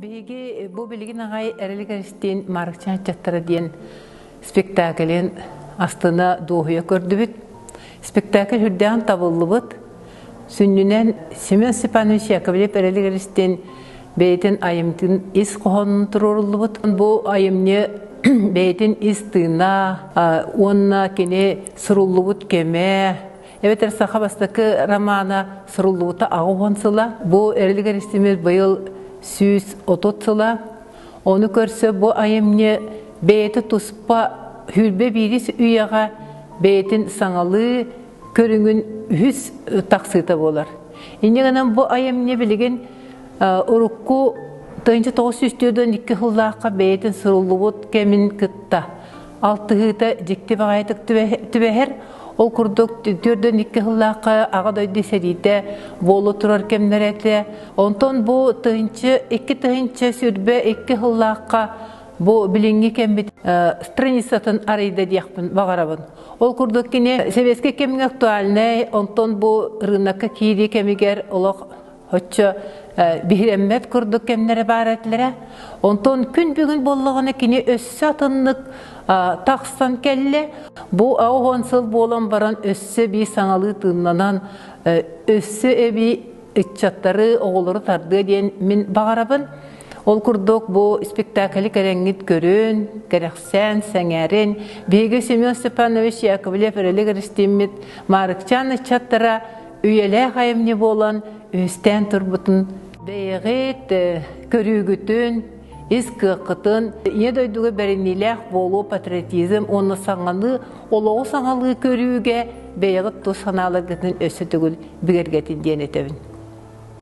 Биһиги бу билигин аҕай Эрэлик Эристиин Марыкчан аччаттара диэн спектаклин астына дуоһуйа көрдүбүт. Спектакль үрдээн табыллыбыт. Сүннүнэн Семен Степанович Яковлев Эрэлик Эристиин бэйэтин айымтын ис хоһонун туруоруллубут. Бу айымньы бэйэтин ис тыына уонна кини суруллубут кэмэ эбэтэр саха бастакы романа суруллубута аҕыс сыла бу эрилигер истимир быйыл сүүс отут сыла ону көрсө бу айымньы бэйэти туспа хүрбэ биирис үйэҕэ бэйэтин саҥалыы көрүҥүн үһүс тахсыыта буолар инньэ гынан бу айымньы билигин урукку тыйынча тоҕус сүүс төрдөн икки сыллаахха бэйэтин суруллубут кэмин кытта алтыһыыта дьикти баҕайытык түбэһэр. Ол курдук төрдөн икки сыллаахха аҕа дойду сэриитэ буола турар кэмнэрэ этэ. Онтон бу тыһынчы, икки тыһынчы сүрбэ икки сыллаахха бу билиҥҥи кэмбит страницатын арыйда диэхпин баҕарабын. Ол курдук кини сэбиэскэй кэмҥэ актуальнай, онтон бу рынокка киирии кэмигэр олох Оччо биһирэммэт курдук кэмнэрэ баар этилэрэ. Онтон күн бүгүн боллоҕуна кини өссө атыннык тахсан кэллэ. Бу аҕыһон сыл буолан баран өссө би саҥалыы тыыннанан, өссө эби ыччаттары, оҕолору тардыа диэн мин баҕарабын. Ол курдук бу спектакль кэрэнгит көрүн, кэрэхсээн, сэҥээрин. Биһиги Семен Степанович Яковлев Өрөлөг Ристиммит Маарыкчаан ыччаттара үйэлээх айымньы буолан үһүстээн турбутун бэйэҕит көрүүгүтүн ис кыаххытын ийэ дойдуга бэриниилээх буолуу патриотизм уонна саҥалыы олоҕу саҥалыы көрүүгэ бэйэҕит тус санааларгытын өссө төгүл бигэргэтин диэн этэбин